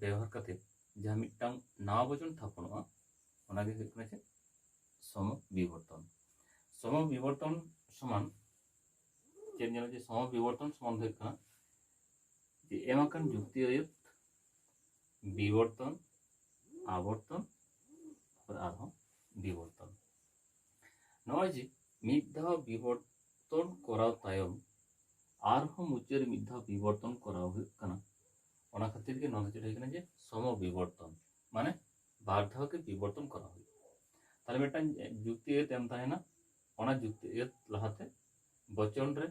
ᱵᱮᱣᱦᱟᱨ ᱠᱟᱛᱮ ᱡᱟᱦᱟᱸ ᱢᱤᱫᱴᱟᱝ ᱱᱟᱣᱟ ᱵᱚᱪᱚᱱ ᱛᱷᱟᱯᱚᱱᱚᱜᱼᱟ ᱚᱱᱟᱜᱮ ᱦᱩᱭᱩᱜ ᱠᱟᱱᱟ ᱪᱮᱫ ᱥᱚᱢ ᱵᱤᱵᱚᱨᱛᱚᱱ ᱥᱚᱢ ᱵᱤᱵᱚᱨᱛᱚᱱ ᱥᱚᱢᱟᱱ ᱪᱮᱫ ᱧᱮᱞᱟ ᱡᱮ ᱥᱚᱢ ᱵᱤᱵᱚᱨᱛᱚᱱ ᱥᱚᱢᱟᱱ ᱦᱩᱭᱩᱜ ᱠᱟᱱᱟ ᱡᱮ ᱮᱢ ᱟᱠᱟᱱ ᱡᱩᱠᱛᱤ ᱟᱹᱭᱟᱹᱛ ᱵᱤᱵᱚᱨᱛᱚᱱ ᱟᱵᱚᱨᱛᱚᱱ ᱛᱟᱨᱯᱚᱨ ᱟᱨᱦᱚᱸ ᱵᱤᱵᱚᱨᱛᱚᱱ ᱱᱚᱜᱼᱚᱭ ᱡᱮ ᱢᱤᱫ ᱫᱷᱟᱣ ᱵᱤᱵᱚᱨᱛᱚᱱ ᱠᱚᱨᱟᱣ ᱛᱟᱭᱚᱢ ᱟᱨᱦᱚᱸ ᱢᱩᱪᱟᱹᱫ ᱢᱤᱫ ᱫᱷᱟᱣ ᱵᱤᱵᱚᱨᱛᱚᱱ ᱠᱚᱨᱟᱣ ᱦᱩᱭᱩᱜ ᱠᱟᱱᱟ ᱚᱱᱟ ᱠᱷᱟᱹᱛᱤᱨ ᱜᱮ ᱱᱚᱣᱟ ᱫᱚ ᱪᱮᱫ ᱦᱩᱭ ᱠᱟᱱᱟ ᱡᱮ ᱥᱚᱢᱚ ᱵᱤᱵᱚᱨᱛᱚᱱ ᱢᱟᱱᱮ ᱵᱟᱨ ᱫᱷᱟᱣ ᱜᱮ ᱵᱤᱵᱚᱨᱛᱚᱱ ᱠᱚᱨᱟᱣ ᱦᱩᱭᱩᱜᱼᱟ ᱛᱟᱦᱞᱮ ᱢᱤᱫᱴᱟᱝ ᱡᱩᱠᱛᱤ ᱮᱛ ᱮᱢ ᱛᱟᱦᱮᱱᱟ ᱚᱱᱟ ᱡᱩᱠᱛᱤ ᱮᱛ ᱞᱟᱦᱟᱛᱮ ᱵᱚᱪᱚᱱ ᱨᱮ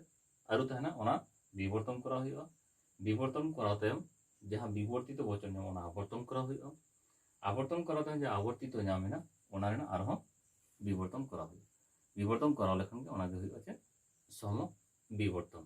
ᱟᱹᱨᱩ ᱛᱟᱦᱮᱱᱟ ᱚᱱᱟ ᱵᱤᱵᱚᱨᱛᱚᱱ ᱠᱚᱨᱟᱣ ᱦᱩᱭᱩᱜᱼᱟ ᱵᱤᱵᱚᱨᱛᱚᱱ ᱠᱚᱨᱟᱣ ᱛᱟᱭᱚᱢ ᱡᱟᱦᱟᱸ ᱵᱤᱵᱚᱨᱛᱤᱛᱚ ᱵᱚᱪᱚᱱ ᱧᱟᱢᱚᱜᱼᱟ ᱚᱱᱟ ᱟᱵᱚᱨᱛᱚᱱ ᱠᱚᱨᱟᱣ ᱦᱩᱭᱩᱜᱼᱟ ᱟᱵᱚᱨᱛᱚᱱ ᱠᱚᱨᱟᱣ ᱛᱟᱭᱚᱢ ᱡᱟᱦᱟᱸ ᱟᱵᱚᱨᱛᱤᱛᱚ ᱧᱟᱢ ᱮᱱᱟ ᱚᱱᱟ ᱨᱮᱱᱟᱜ ᱟᱨᱦᱚᱸ ᱵᱤᱵᱚᱨᱛᱚᱱ ᱠᱚᱨᱟᱣ ᱦᱩᱭᱩᱜᱼᱟ ᱵᱤᱵᱚᱨᱛᱚᱱ ᱠᱚᱨᱟᱣ ᱞᱮᱠᱷᱟᱱ ᱜᱮ ᱚᱱᱟᱜᱮ ᱦᱩᱭᱩᱜᱼᱟ ᱪᱮᱫ ᱥᱚᱢᱚ ᱵᱤᱵᱚᱨᱛᱚᱱ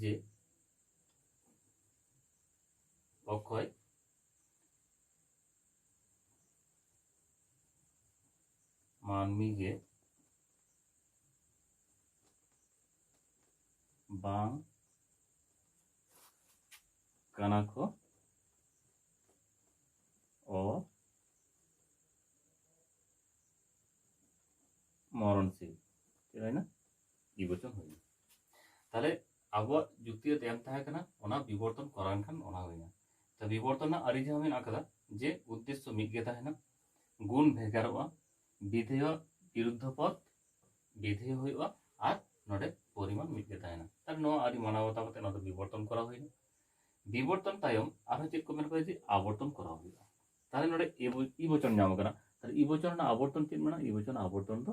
ᱡᱮ ᱚᱠᱚᱭ ᱢᱟᱹᱱᱢᱤ ᱜᱮ ᱵᱟᱝ ᱠᱟᱱᱟ ᱠᱚ ᱚ ᱢᱚᱨᱚᱱᱥᱤᱞ ᱪᱮᱫ ᱦᱩᱭᱱᱟ ᱵᱤᱵᱚᱨᱛᱚᱱ ᱦᱩᱭᱱᱟ ᱛᱟᱦᱚᱞᱮ ᱟᱵᱚᱣᱟᱜ ᱡᱩᱠᱛᱤ ᱨᱮ ᱮᱢ ᱛᱟᱦᱮᱸ ᱠᱟᱱᱟ ᱚᱱᱟ ᱵᱤᱵᱚᱨᱛᱚᱱ ᱠᱚᱨᱟᱣ ᱞᱮᱱᱠᱷᱟᱱ ᱚᱱᱟ ᱦᱩᱭᱱᱟ ᱛᱚ ᱵᱤᱵᱚᱨᱛᱚᱱ ᱨᱮᱱᱟᱜ ᱟᱹᱨᱤ ᱡᱟᱦᱟᱸ ᱢᱮᱱᱟᱜ ᱟᱠᱟᱫᱟ ᱡᱮ ᱩᱫᱽᱫᱮᱥᱥᱚ ᱢᱤᱫ ᱜᱮ ᱛᱟᱦᱮᱱᱟ ᱜᱩᱱ ᱵᱷᱮᱜᱟᱨᱚᱜᱼᱟ ᱵᱤᱫᱷᱮᱭ ᱵᱤᱨᱩᱫᱽᱫᱷᱚ ᱯᱚᱫ ᱵᱤᱫᱷᱮᱭ ᱦᱩᱭᱩᱜᱼᱟ ᱟᱨ ᱱᱚᱰᱮ ᱯᱚᱨᱤᱢᱟᱱ ᱢᱤᱫ ᱜᱮ ᱛᱟᱦᱮᱱᱟ ᱛᱟᱦᱚᱞᱮ ᱱᱚᱣᱟ ᱟᱹᱨᱤ ᱢᱟᱱᱟᱣ ᱵᱟᱛᱟᱣ ᱠᱟᱛᱮ ᱱᱚᱣᱟ ᱫᱚ ᱵᱤᱵᱚᱨᱛᱚᱱ ᱠᱚᱨᱟᱣ ᱦᱩᱭᱱᱟ ᱵᱤᱵᱚᱨᱛᱚᱱ ᱛᱟᱭᱚᱢ ᱟᱨᱦᱚᱸ ᱪᱮᱫ ᱠᱚ ᱢᱮᱱ ᱠᱟᱫᱟ ᱡᱮ ᱟᱵᱚᱨᱛᱚᱱ ᱠᱚᱨᱟᱣ ᱦᱩᱭᱩᱜᱼᱟ ᱛᱟᱦᱚᱞᱮ ᱱᱚᱰᱮ ᱤ ᱵᱚᱪᱚᱱ ᱧᱟᱢ ᱟᱠᱟᱱᱟ ᱛᱟᱦᱚᱞᱮ ᱤ ᱵᱚᱪᱚᱱ ᱨᱮᱱᱟᱜ ᱟᱵᱚᱨᱛᱚᱱ ᱪᱮᱫ ᱢᱮᱱᱟᱜᱼᱟ ᱤ ᱵᱚᱪᱚᱱ ᱟᱵᱚᱨᱛᱚᱱ ᱫᱚ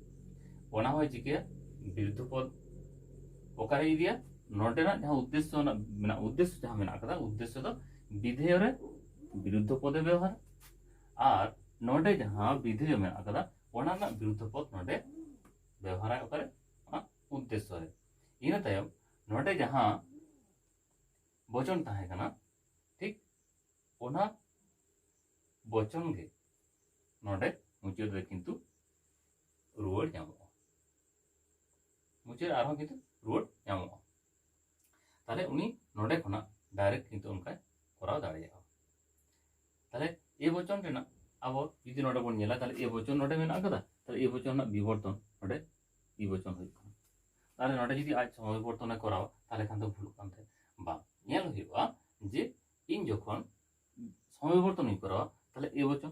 ᱚᱱᱟ ᱦᱚᱸᱭ ᱪᱤᱠᱟᱹᱭᱟ ᱵᱤᱨᱩᱫᱽᱫᱷᱚ ᱯᱚᱫ ᱚᱠᱟᱨᱮ ᱤᱫᱤᱭᱟ ᱱᱚᱰᱮᱱᱟᱜ ᱡᱟᱦᱟᱸ ᱩᱫᱽᱫᱮᱥᱥᱚ ᱨᱮᱱᱟᱜ ᱢᱮᱱᱟᱜ ᱩᱫᱽᱫᱮᱥᱥᱚ ᱡᱟᱦᱟᱸ ᱢᱮᱱᱟᱜ ᱟᱠᱟᱫᱟ ᱩᱫᱽᱫᱮᱥᱥᱚ ᱫᱚ ᱵᱤᱫᱷᱮᱭᱚ ᱨᱮ ᱵᱤᱨᱩᱫᱽᱫᱷᱚ ᱯᱚᱫᱮ ᱵᱮᱣᱦᱟᱨᱟ ᱟᱨ ᱱᱚᱰᱮ ᱡᱟᱦᱟᱸ ᱵᱤᱫᱷᱮᱭᱚ ᱢᱮᱱᱟᱜ ᱟᱠᱟᱫᱟ ᱚᱱᱟ ᱨᱮᱱᱟᱜ ᱵᱤᱨᱩᱫᱽᱫᱷᱚ ᱯᱚᱫ ᱱᱚᱰᱮ ᱵᱮᱣᱦᱟᱨᱟᱭ ᱚᱠᱟᱨᱮ ᱚᱱᱟ ᱩᱫᱽᱫᱮᱥᱥᱚ ᱨᱮ ᱤᱱᱟᱹ ᱛᱟᱭᱚᱢ ᱱᱚᱰᱮ ᱡᱟᱦᱟᱸ ᱵᱚᱪᱚᱱ ᱛᱟᱦᱮᱸ ᱠᱟᱱᱟ ᱴᱷᱤᱠ ᱚᱱᱟ ᱵᱚᱪᱚᱱ ᱜᱮ ᱱᱚᱰᱮ ᱢᱩᱪᱟᱹᱫ ᱨᱮ ᱠᱤᱱᱛᱩ ᱨᱩᱣᱟᱹᱲ ᱧᱟᱢᱚᱜᱼᱟ ᱢᱩᱪᱟᱹᱫ ᱨᱮ ᱟᱨᱦᱚᱸ ᱠᱤᱱᱛᱩ ᱨᱩᱣᱟᱹᱲ ᱧᱟᱢᱚᱜᱼᱟ ᱛᱟᱦᱞᱮ ᱩᱱᱤ ᱱᱚᱰᱮ ᱠᱷᱚᱱᱟᱜ ᱰᱟᱭᱨᱮᱠᱴ ᱠᱤᱱᱛᱩ ᱚᱱᱠᱟᱭ ᱠᱚᱨᱟᱣ ᱫᱟᱲᱮᱭᱟᱜᱼᱟ ᱛᱟᱦᱞᱮ ᱮ ᱵᱚᱪᱚᱱ ᱨᱮᱱᱟᱜ ᱟᱵᱚ ᱡᱩᱫᱤ ᱱᱚᱰᱮ ᱵᱚᱱ ᱧᱮᱞᱟ ᱛᱟᱦᱞᱮ ᱮ ᱵᱚᱪᱚᱱ ᱱᱚᱰᱮ ᱢᱮᱱᱟᱜ ᱟᱠᱟᱫᱟ ᱛᱟᱦᱞᱮ ᱮ ᱵᱚᱪᱚᱱ ᱨᱮᱱᱟᱜ ᱵᱤᱵᱚᱨᱛᱚᱱ ᱱᱚᱰᱮ ᱵᱤ ᱵᱚᱪᱚᱱ ᱦᱩᱭᱩᱜ ᱠᱟᱱᱟ ᱛᱟᱦᱞᱮ ᱱᱚᱰᱮ ᱡᱩᱫᱤ ᱟᱡ ᱥᱚᱢᱚᱭ ᱵᱚᱨᱛᱚᱱᱮ ᱠᱚᱨᱟᱣᱟ ᱛᱟᱦᱞᱮ ᱠᱷᱟᱱ ᱫᱚ ᱵᱷᱩᱞᱩᱜ ᱠᱟᱱ ᱛᱟᱭᱟ ᱵᱟᱝ ᱧᱮᱞ ᱦᱩᱭᱩᱜᱼᱟ ᱡᱮ ᱤᱧ ᱡᱚᱠᱷᱚᱱ ᱥᱚᱢᱚᱭ ᱵᱚᱨᱛᱚᱱᱤᱧ ᱠᱚᱨᱟᱣᱟ ᱛᱟᱦᱞᱮ ᱮ ᱵᱚᱪᱚᱱ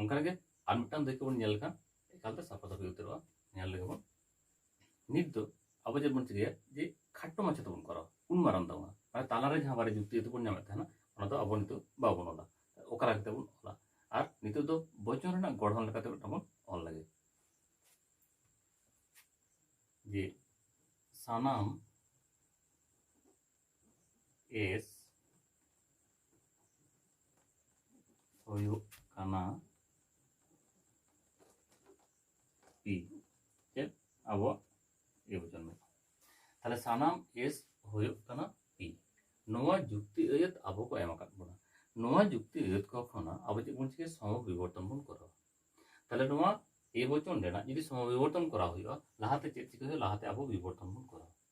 ᱚᱱᱠᱟᱜᱮ ᱟᱨ ᱢᱤᱫᱴᱟᱝ ᱫᱟᱹᱭᱠᱟᱹ ᱵᱚᱱ ᱧᱮᱞ ᱞᱮᱠᱷᱟᱱ ᱮᱠᱟᱞᱛᱮ ᱥᱟᱯᱷᱟ ᱥᱟᱹᱯᱷᱤ ᱩᱛᱟᱹᱨᱚᱜᱼᱟ ᱧᱮᱞ ᱞᱮᱜᱮ ᱵᱚᱱ ᱱᱤᱛ ᱫᱚ ᱟᱵᱚ ᱪᱮᱫ ᱵᱚᱱ ᱪᱤᱠᱟᱹᱭᱟ ᱡᱮ ᱠᱷᱟᱴᱚ ᱢᱟᱪᱷᱟ ᱛᱮᱵᱚᱱ ᱠᱚᱨᱟᱣᱟ ᱩᱱ ᱢᱟᱨᱟᱝ ᱫᱚ ᱵᱟᱝ ᱢᱟᱱᱮ ᱛᱟᱞᱟᱨᱮ ᱡᱟᱦᱟᱸ ᱵᱟᱨᱭᱟ ᱡᱩᱠᱛᱤ ᱡᱩᱠᱛᱤ ᱵᱚᱱ ᱧᱟᱢᱮᱫ ᱛᱟᱦᱮᱱᱟ ᱚᱱᱟ ᱫᱚ ᱟᱵᱚ ᱱᱤᱛᱚᱜ ᱵᱟᱵᱚᱱ ᱚᱞᱟ ᱚᱠᱟ ᱞᱮᱠᱟ ᱠᱟᱛᱮ ᱵᱚᱱ ᱚᱞᱟ ᱟᱨ ᱱᱤᱛᱚᱜ ᱫᱚ ᱵᱚᱪᱚᱱ ᱨᱮᱱᱟᱜ ᱜᱚᱲᱦᱚᱱ ᱞᱮᱠᱟᱛᱮ ᱢᱤᱫᱴᱟᱝ ᱵᱚᱱ ᱚᱞ ᱞᱮᱜᱮ ᱡᱮ ᱥᱟᱱᱟᱢ ᱮᱥ ᱦᱩᱭᱩᱜ ᱠᱟᱱᱟ ᱯᱤ ᱪᱮᱫ ᱟᱵᱚᱣᱟᱜ ᱮ ᱵᱚᱪᱚᱱ ᱢᱮᱱᱟᱜᱼᱟ ᱛᱟᱦᱚᱞᱮ ᱥᱟᱱᱟᱢ ᱮᱥ ᱦᱩᱭᱩᱜ ᱠᱟᱱᱟ ᱯᱤ ᱱᱚᱣᱟ ᱡᱩᱠᱛᱤ ᱟᱹᱭᱟᱹᱛ ᱟᱵᱚ ᱠᱚ ᱮᱢ ᱟᱠᱟᱫ ᱵᱚᱱᱟ ᱱᱚᱣᱟ ᱡᱩᱠᱛᱤ ᱟᱹᱭᱟᱹᱛ ᱠᱚ ᱠᱷᱚᱱᱟᱜ ᱟᱵᱚ ᱪᱮᱫ ᱵᱚᱱ ᱪᱤᱠᱟᱹᱭᱟ ᱥᱚᱢᱚ ᱵᱤᱵᱚᱨᱛᱚᱱ ᱵᱚᱱ ᱠᱚᱨᱟᱣᱟ ᱛᱟᱦᱚᱞᱮ ᱱᱚᱣᱟ ᱮ ᱵᱚᱪᱚᱱ ᱨᱮᱱᱟᱜ ᱡᱩᱫᱤ ᱥᱚᱢᱚ ᱵᱤᱵᱚᱨᱛᱚᱱ ᱠᱚᱨᱟᱣ ᱦᱩᱭᱩᱜᱼᱟ ᱞᱟᱦᱟᱛᱮ ᱪᱮᱫ ᱪᱤᱠᱟᱹ ᱦᱩᱭᱩᱜᱼᱟ ᱞᱟᱦᱟᱛᱮ ᱟᱵᱚ ᱵᱤᱵᱚᱨᱛᱚᱱ ᱵᱚᱱ ᱠᱚᱨᱟᱣᱟ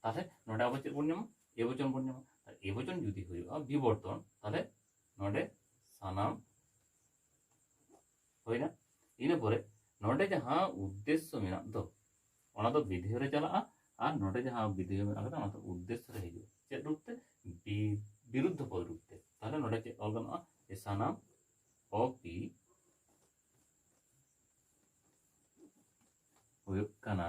ᱛᱟᱦᱚᱞᱮ ᱱᱚᱰᱮ ᱟᱵᱚ ᱪᱮᱫ ᱵᱚᱱ ᱧᱟᱢᱟ ᱮ ᱵᱚᱪᱚᱱ ᱵᱚᱱ ᱧᱟᱢᱟ ᱮ ᱵᱚᱪᱚᱱ ᱡᱩᱫᱤ ᱦᱩᱭᱩᱜᱼᱟ ᱵᱤᱵᱚᱨᱛᱚᱱ ᱛᱟᱦᱚᱞᱮ ᱱᱚᱰᱮ ᱥᱟᱱᱟᱢ ᱦᱩᱭᱱᱟ ᱤᱱᱟᱹ ᱯᱚᱨᱮ ᱱᱚᱰᱮ ᱡᱟᱦᱟᱸ ᱩᱫᱽᱫᱮᱥᱥᱚ ᱢᱮᱱᱟᱜ ᱫᱚ ᱚᱱᱟ ᱫᱚ ᱵᱤᱫᱷᱮᱭ ᱨᱮ ᱪᱟᱞᱟᱜᱼᱟ ᱟᱨ ᱱᱚᱰᱮ ᱡᱟᱦᱟᱸ ᱵᱤᱫᱷᱮᱭ ᱢᱮᱱᱟᱜ ᱠᱟᱫᱟ ᱚᱱᱟ ᱫᱚ ᱩᱫᱽᱫᱮᱥᱥᱚ ᱨᱮ ᱦᱤᱡᱩᱜᱼᱟ ᱪᱮᱫ ᱨᱩᱯ ᱛᱮ ᱵᱤᱨᱩᱫᱽᱫᱷᱚ ᱯᱚᱫ ᱨᱩᱯ ᱛᱮ ᱛᱟᱦᱚᱞᱮ ᱱᱚᱰᱮ ᱪᱮᱫ ᱚᱞ ᱜᱟᱱᱚᱜᱼᱟ ᱮ ᱥᱟᱱᱟᱢ ᱚᱯᱤ ᱦᱩᱭᱩᱜ ᱠᱟᱱᱟ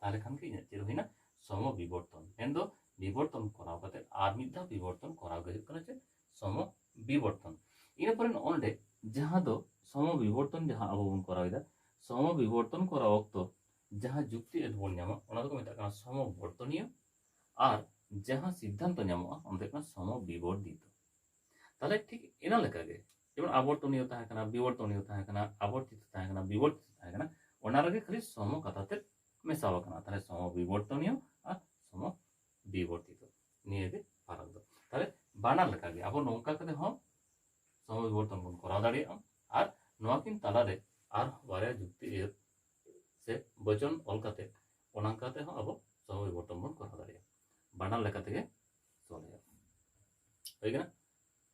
ᱛᱟᱦᱚᱞᱮ ᱠᱷᱟᱱ ᱜᱮ ᱤᱧᱟᱹᱜ ᱪᱮᱫ ᱦᱩᱭᱱᱟ ᱥᱚᱢᱚ ᱵᱤᱵᱚᱨᱛᱚᱱ ᱢᱮᱱ ᱫᱚ ᱵᱤᱵᱚᱨᱛᱚᱱ ᱠᱚᱨᱟᱣ ᱠᱟᱛᱮ ᱟᱨ ᱢᱤᱫ ᱫᱷᱟᱣ ᱵᱤᱵᱚᱨᱛᱚᱱ ᱠᱚᱨᱟᱣ ᱜᱮ ᱦᱩᱭᱩᱜ ᱠᱟᱱᱟ ᱪᱮᱫ ᱥᱚᱢᱚ ᱵᱤᱵᱚᱨᱛᱚᱱ ᱤᱱᱟᱹ ᱯᱚᱨᱮ ᱱᱚᱸᱰᱮ ᱡᱟᱦᱟᱸ ᱫᱚ ᱥᱚᱢᱚ ᱵᱤᱵᱚᱨᱛᱚᱱ ᱡᱟᱦᱟᱸ ᱟᱵᱚ ᱵᱚᱱ ᱠᱚᱨᱟᱣ ᱮᱫᱟ ᱥᱚᱢᱚ ᱵᱤᱵᱚᱨᱛᱚᱱ ᱠᱚᱨᱟᱣ ᱚᱠᱛᱚ ᱡᱟᱦᱟᱸ ᱡᱩᱠᱛᱤ ᱟᱹᱰᱤ ᱵᱚᱱ ᱧᱟᱢᱟ ᱚᱱᱟ ᱫᱚᱠᱚ ᱢᱮᱛᱟᱜ ᱠᱟᱱᱟ ᱥᱚᱢᱚ ᱵᱚᱨᱛᱚᱱᱤᱭᱚ ᱟᱨ ᱡᱟᱦᱟᱸ ᱥᱤᱫᱽᱫᱷᱟᱱᱛᱚ ᱧᱟᱢᱚᱜᱼᱟ ᱚᱱᱟ ᱫᱚ ᱦᱩᱭᱩᱜ ᱠᱟᱱᱟ ᱥᱚᱢᱚ ᱵᱤᱵᱚᱨᱫᱤᱛᱚ ᱛᱟᱦᱚᱞᱮ ᱴᱷᱤᱠ ᱤᱱᱟᱹ ᱞᱮᱠᱟᱜᱮ ᱡᱮᱢᱚᱱ ᱟᱵᱚᱨᱛᱚᱱᱤᱭᱚ ᱛᱟᱦᱮᱸ ᱠᱟᱱᱟ ᱵᱤᱵᱚᱨᱛᱚᱱᱤᱭᱚ ᱛᱟᱦᱮᱸ ᱠᱟᱱᱟ ᱟᱵᱚᱨᱛᱤᱛᱚ ᱛᱟᱦᱮᱸ ᱠᱟᱱᱟ ᱵᱤᱵᱚᱨᱛᱤᱛᱚ ᱛᱟᱦᱮᱸ ᱠᱟᱱᱟ ᱚᱱᱟ ᱨᱮᱜᱮ ᱠᱷᱟᱹᱞᱤ ᱥᱚᱢᱚ ᱠᱟᱛᱷᱟ ᱛᱮᱫ ᱢᱮᱥᱟᱣ ᱟᱠᱟᱱᱟ ᱛᱟᱦᱚᱞᱮ ᱥᱚᱢᱚ ᱵᱤᱵᱚᱨᱛᱚᱱᱤᱭᱚ ᱟᱨ ᱥᱚᱢᱚ ᱵᱤᱵᱚᱨᱛᱤᱛᱚ ᱱᱤᱭᱟᱹᱜᱮ ᱯᱷᱟᱨᱟᱠ ᱫᱚ ᱛᱟᱦᱚᱞᱮ ᱵᱟᱱᱟᱨ ᱞᱮᱠᱟᱜᱮ ᱟᱵᱚ ᱱᱚᱝᱠᱟ ᱠᱟᱛᱮ ᱦᱚᱸ ᱥᱚᱢᱚ ᱵᱤᱵᱚᱨᱛᱚᱱ ᱵᱚᱱ ᱠᱚᱨᱟᱣ ᱫᱟᱲᱮᱭᱟᱜᱼᱟ ᱟᱨ ᱱᱚᱣᱟ ᱠᱤᱱ ᱛᱟᱞᱟᱨᱮ ᱟᱨ ᱵᱟᱨᱭᱟ ᱡᱩᱠᱛᱤ ᱮᱭᱟᱹᱛ ᱥᱮ ᱵᱚᱪᱚᱱ ᱚᱞ ᱠᱟᱛᱮ ᱚᱱᱟ ᱠᱟᱛᱮ ᱦᱚᱸ ᱟᱵᱚ ᱥᱚᱢᱚ ᱵᱤᱵᱚᱨᱛᱚᱱ ᱵᱚᱱ ᱠᱚᱨᱟᱣ ᱫᱟᱲᱮᱭᱟᱜᱼᱟ ᱵᱟᱱᱟᱨ ᱞᱮᱠᱟ ᱛᱮᱜᱮ ᱥᱚᱞᱦᱮᱭᱟ ᱦᱩᱭ ᱠᱟᱱᱟ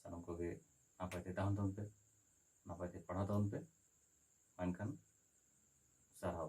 ᱥᱟᱱᱟᱢ ᱠᱚᱜᱮ ᱱᱟᱯᱟᱭ ᱛᱮ ᱛᱟᱦᱮᱱ ᱛᱟᱵᱚᱱ ᱯᱮ ᱱᱟᱯᱟᱭ ᱛᱮ ᱯᱟᱲᱦᱟᱣ ᱛᱟᱵᱚᱱ ᱯᱮ ᱢᱟ ᱮᱱᱠᱷᱟᱱ ᱥᱟᱨᱦᱟᱣ